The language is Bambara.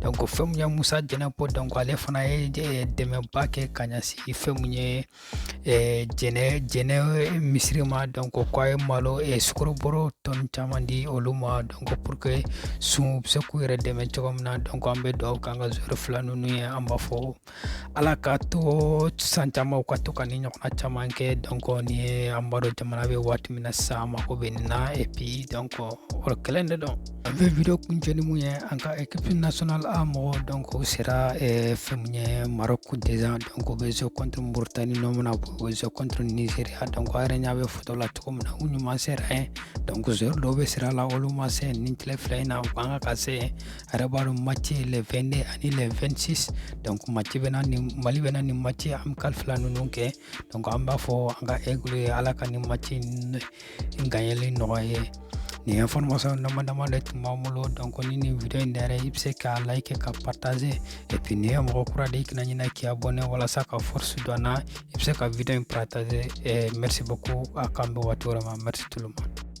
donc fɛn mun ye musa jɛnɛpo donc ale fana ye dɛmɛba kɛ ka ɲɛsin fɛn mun ye jɛnɛ jɛnɛ misiri ma donc ko a ye malo sukoro bɔrɔ tɔn caman di olu ma donc pour que sun bɛ se k'u yɛrɛ dɛmɛ cogo min na donc an bɛ dugawu kɛ an ka joueur fila ninnu ye an b'a fɔ ala k'a to san caman u ka to ka nin ɲɔgɔnna caman kɛ donc nin ye an b'a dɔn jamana bɛ waati min na sa mako bɛ nin na et puis donc o kɛlen de don an bɛ video kuncɛ ni mun ye an ka équipe nationale a mɔgɔ donc u sera eh, fɛn mun ye maroc déjà donc u bɛ jouer contre mauritanie nɔ min na u bɛ jouer contre nigeria donc a yɛrɛ ɲa bɛ foto la cogo min na u ɲuman sera yen donc joueur dɔw bɛ sira la olu ma se nin tile fila in na u kan ka ka se a yɛrɛ b'a dɔn match ye le 22 ani le 26 donc match bɛna nin mali bɛna nin match amical fila ninnu kɛ donc an b'a fɔ an ka aigle ye ala ka nin match in ganyɛli nɔgɔya u ye nin information dama dama de tun b'an bolo donc ni nin video in diyara i ye i bɛ se k'a like ka partager et puis n'i ye mɔgɔ kura de i kana ɲinɛ k'i abonner walasa ka force don an na i bɛ se ka video in partager eh, merci beaucoup a k'an bɛn waati wɛrɛ ma merci tout le monde